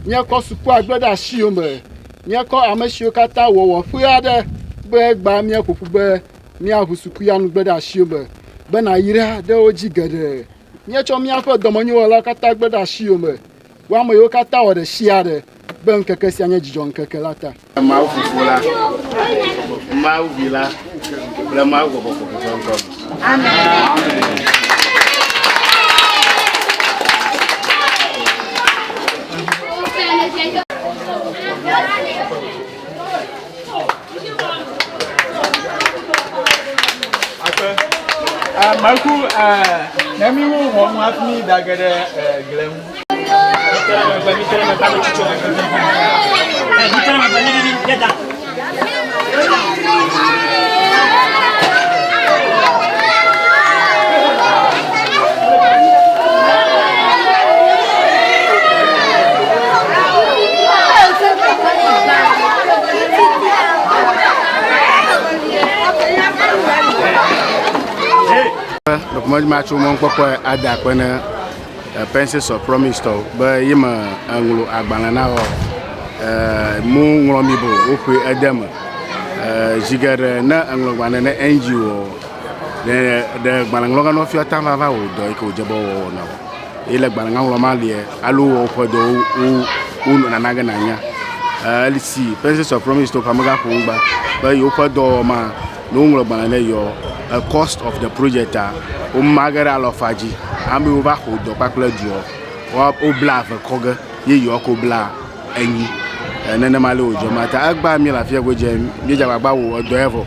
míakɔ sukuagbe ɖe asiwo me míakɔ ame siwo katã wɔwɔ ƒe aɖe be egba míaƒo ƒu be míaʋu sukuyanugbe ɖe asiwo me be nàyra ɖe wo dzi geɖe míetsɔ míaƒe dɔmenyowɔlawo katã gbe ɖe asiwo me Wò ame yiwo katã wɔ ɖe sia ɖe be ŋkeke sia nye dzidzɔŋkeke la ta. Mawu Fofo la, Mawu Vi la kple Mawu Gbɔgbɔ Kɔkɔe ƒe ŋkɔ me. Amen. Maku ne mi wo wɔ mu afi mi da ge ɖe gble ŋu. mɔdima tso mɔkpɔkpɔ ada kpe ne pensis of promise tɔ be yi me eŋlo agbalẽ na wɔ mu ŋlɔ mi bo woƒe ede me zigeɖe ne eŋlɔgbalẽ ne ngo Ɖe ɖe gbalẽŋlɔga nɔ fiɔ ta vava wò dɔ yi ke wòdze be wòawɔ na wò. Eye le gbalẽŋa ŋlɔ ma lia, alo wɔ woƒe dɔ wo wo wo nɔ nana ge nànya. Eh, Eli si Princess of Promise to xame gaƒo ŋgba be yewoƒe dɔwɔwɔ ma, ne woŋlɔ gbalẽ ɖe yɔ eh, cost of the project a, woma ge ɖe alɔfa dzi. Ame yiwo va xo dɔ kpakple duɔ, woa wobla eve kɔ ge ye yewoa ko bla enyi. Eh, Nenema le wòdze ma ta. Egbea mí le afi ya godzi, míedze agbagba wò edɔ ya vɔ.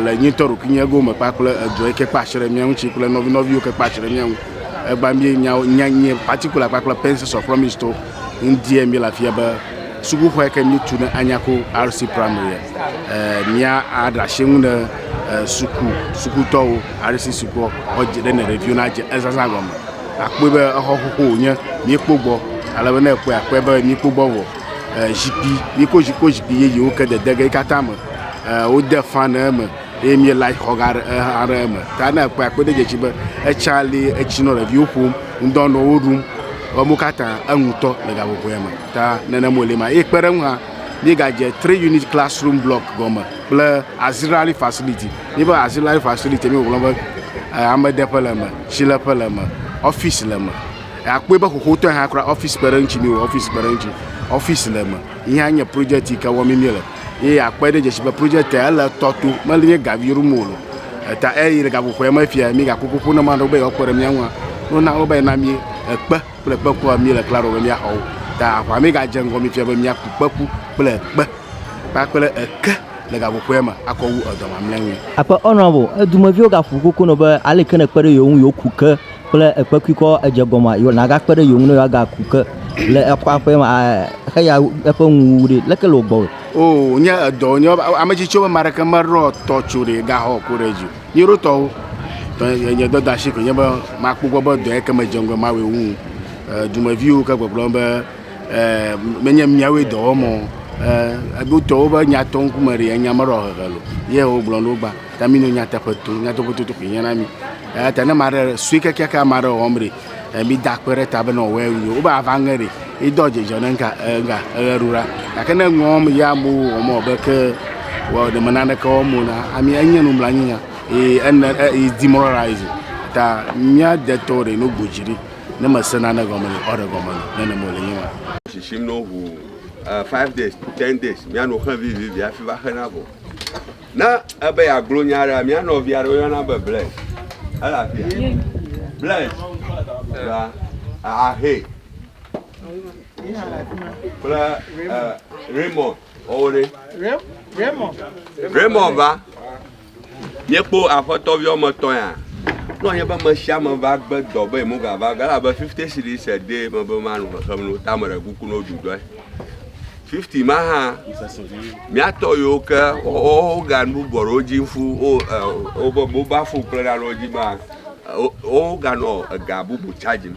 le nyitɔ ɖokuinyɛ gome kpakple edɔ yi ke kpa asi ɖe mía ŋuti kple nɔvi nɔviwo ke kpa asi ɖe mía ŋu. Egba mi nya nya nye particular kpakple Pensions of Promise to ŋdie mi le afia be sukuxɔ yi ke mi tu ne anya ko RC Primary eh, mía aɖe asi ŋu ne eh, suku sukutɔwo RC sukua ɔdze ɖe ne ɖeviwo na dze ezazã gɔme. Akpɔe be exɔ xoxo wònye mi kpɔ gbɔ ale be ne ekpɔe akpɔe be mi kpɔ gbɔ vɔ. Zikpui yi ko zikpui zikpui yeyewo ke dede ge yi katã me wode fan ɖe eme eye mi light xɔ ga ɖe exa ɖe eme ta ne ekpɔe akpɔe ɖe edze edzi be etsa li etsi nɔ ɖeviwo ƒom ŋdɔ nɔ wo ɖum emu katã enu tɔ le gaƒoƒo ya me ta nene mo li ma eye kpe ɖe eŋu hã mi gadze three unit classroom block gɔme kple azilari facility mi be azilari facility mi gblɔ be amedeƒe le eme tsileƒe le eme ɔfis le eme. Akpɔe be xoxotɔe hã kura ɔfisi kpe ɖe eŋuti mi wɔ ɔfisi kpe ɖe eŋuti. Ɔfisi le eme yi hã nye project yi ke wɔm mi le eye akpɔe ɖe dzesi be project ele tɔ to meli nye gavi ɖum o lo. Eta eyi le gaƒoƒoe me fia mi gakpɔ ƒoƒo na maɖewo be yewoakpe ɖe mia ŋua no na wo be na mi ekpe kple kpeku mi le klalo be miaxɔ wo. Ta aʋa mi gadze ŋgɔ mi fia be miaku kpeku kple ekpe kpakple eke le gaƒoƒoe me akɔ wu edɔ mamlɛa ŋui. Akpe honorable, edumeviwo gaƒo koko nɔ be aleke ne ekpe ɖe yewo ŋu yewoku ke kple ekpekuikɔ edze gɔme a, nàgakpe ɖe yewo ŋu ne yewoagaku ke le eƒe aƒe me a, xe ya eƒe nuwuwu ɖi. Leke le wò gbɔ? O, nye edɔ, nye ame tsitsiwo be ame aɖeke meɖɔ tɔ tso ɖe gaxɔ ku ɖe edzi o. Nye ɖo tɔwo. Tɔ nye, nye dɔdasi koe nye be makpɔ gbɔ be dɔ yeke medze ŋgɔe mawɔe wu. E, dumeviwo ke gbɔgblɔ be menye miawoe dɔ wɔm o. Wotɔ woƒe nya tɔ ŋkume ɖi, enya meɖɔ hehe lo. Ye wogblɔ na wo be, ta mi no nyateƒe to, nyateƒe toto koe hiã na mi. Eya ta ne ame aɖe sue kekeake ame aɖe wɔm ɖi, mida akpe ɖe eta be ne wòawɔe nyuie. Wobe ava ŋe ɖi, ye do dzidzɔ ne ŋka ŋka eʋeɖula. Gake ne eŋe wɔm ye amewo wɔm wɔ be ke wɔ ɖe me naneke wɔm o na amea enye nublanuinya ye ene ye demoralise ta mía detɔ ɖe no gbo dzi ɖi. Ne mese nane gɔme le ɔɖe gɔme le nene mo le nyewa. Shishim no hu uh, five days ten days miano xe vivivi afi va xe na vɔ. Ne ebe yeagblɔ nya ɖe mia nɔvi aɖe woyɔna be Blaise ele afia Blaise va ahe kple uh, Raymond ɔwo ɖe Raymond va Míekpɔ aƒetɔ vi wɔme etɔ̃ ya. Nɔ nye be me sia me va gbe dɔ be yemo ga va ge la be fifty cities a day me be ma nu xexem no ta me ɖe kuku no du dɔe. Fifty ma hã miatɔ yiwo ke wo ga nu bɔ ɖe wo dzi fu wo eh, wo be mobile phone kple na ɖe wo dzi ma wo ga nɔ ega bubu charge me.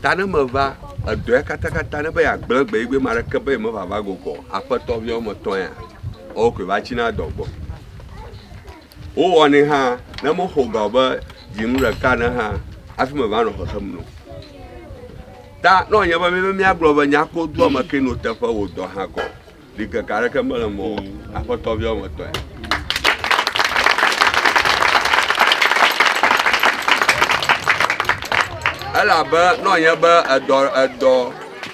Ta ne me va edɔe katakata ne be ya gble gbe yi gbe ma ɖe ke be me va va gokɔ aƒetɔ vi wɔme etɔ̃ ya. Ɔkɔe va tsi na dɔ gbɔ. wowɔnɛ hã ne moxɔ ga be dzinu ɖeka ne hã hafi me va nɔ xexem no ta ne wònye be míbe míagblɔ be nyako doa me ke no teƒe wò dɔ hã kɔ ɖikeke aɖeke mele mɔ aƒetɔ viawo me tɔe elabe ne wònye be edɔ edɔ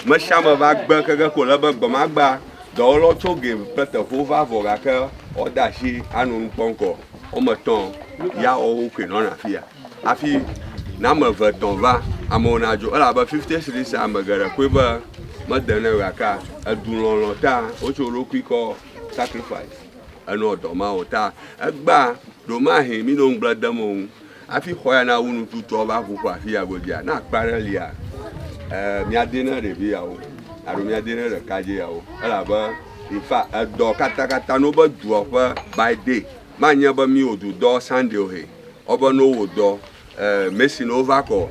mesiame va gbe keke ko le be gbemagba Dɔwɔlawo tso game kple teƒewo va vɔ gake woade asi anɔ nu kpɔm kɔ. Woame etɔ̃ ya woawo koe nɔna afi ya. Hafi ne ame eve tɔ̃ va, amewo nadzo elabe fifty cities ame geɖe koe be mede nɛ o gake edulɔlɔ̃ ta wotso wo ɖokui kɔ sacrifice enɔ dɔ ma o ta egbea ɖewomahe mí nɔ ŋugble dem wo ŋu Hafi xɔ ya nawu nututɔ va ƒu ƒo afi ya godzia, ne akpa aɖe lia, eh, míade ne ɖevi yawo alo míade ne ɖekadze yawo elabe infa edɔ katakata no be dua ƒe by day manye be mi wodu dɔ Sunday o he wobe no wo dɔ eh, Mason wova kɔ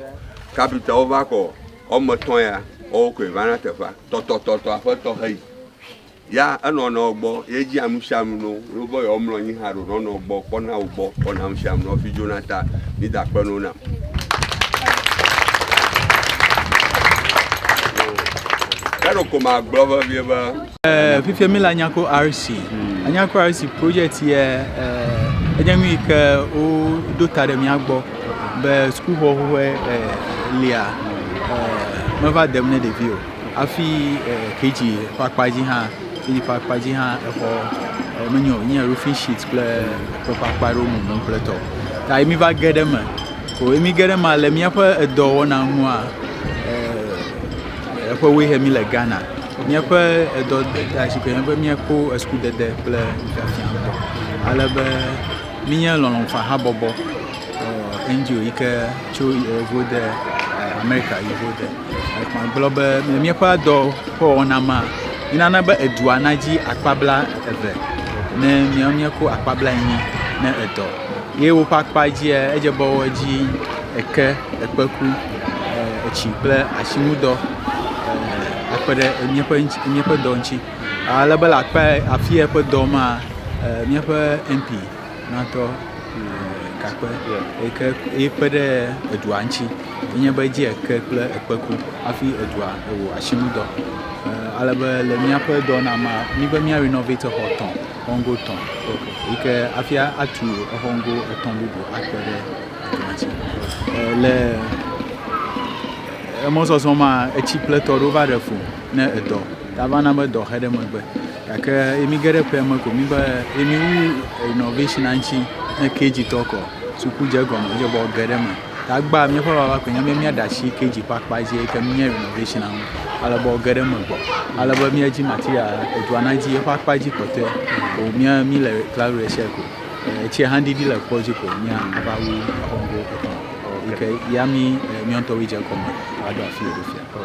kapita wova kɔ wɔme etɔ̃ ya wɔwo koe vana teƒea tɔtɔtɔtɔ aƒetɔ heyi. Ya enɔa nɔwo gbɔ, ye dzia nu sia nu no, ɖo be yewo mlɔ anyi hã ɖo nɔa nɔwo gbɔ, kpɔna wo gbɔ, wɔna nu sia nu nɔfi dzona ta. Mi da kpe no nam. Kɛɖo ko ma gblɔ vevie be. Eh, fifia mi le Anyako RC. Hmm. Anyako RC project ye eh, enye nu yi ke woɖo ta ɖe mía gbɔ be sukuxɔxɔe eh, lia eh, meva dem ne ɖevi o. Hafi KG ƒe akpa dzi hã, KG ƒe akpa dzi hã exɔ e, menye o, nye roofing sheet kple ekpe ƒe akpa aɖewo mumu kple tɔ. Ta ye miva ge ɖe eme. Ko ye mige ɖe eme le míaƒe edɔwɔna ŋua e, eƒe woe he míle Ghana. Míaƒe edɔ asi ke be míakpɔ esukudede kple nufiafia ŋutɔ. Ale be mínye lɔlɔ̃ fahabɔbɔ. NGO yike tso yevo de Amerika yevo de gblɔ be míaƒe dɔ ƒe wɔna ma nana be edua nadzi akpa bla eve ne mía míeko akpa bla enyi ne edɔ ye woƒe akpa dzia edze be edzi eke ekpeku etsi kple asinudɔ akpe ɖe míaƒe míaƒe dɔ ŋuti ale be le akpa afia ƒe dɔ ma míaƒe MP. Natɔ gakpe yike ye kpe ɖe edua ŋuti enye be edzi eke kple ekpeku hafi edua wɔ asinudɔ. Ale be le míaƒe dɔ na mea, mí be mía renovate exɔ etɔ, exɔ ŋgɔ etɔ yike hafi atu exɔ ŋgɔ etɔ bubu akpe ɖe edua ŋuti. Le emɔzɔzɔ mea etsi ƒletɔ ɖewo va ɖe fũ ne edɔ ta va na be dɔ xe ɖe megbe. Gake eye mi ge ɖe ƒea me ko mi be eye mi wu innovation ŋuti ne KG tɔ kɔ suku dze gɔme dze bɔ ge ɖe me. Ta gba míaƒe baba ko nye be míaɖe asi KG ƒe akpa dzi eye ke mía innovation ŋu ale be ge ɖe me gbɔ ale be míadzi material edua na dzi eƒe akpa dzi kpɔtɔe ko mía mi le cloud research ko etsi hã ɖiɖi le kpɔ dzi ko mía ava wu exɔ ŋgo etɔ̃. Ke ya mi miãtɔwo dze gɔme aɖo afi yeɖo fia.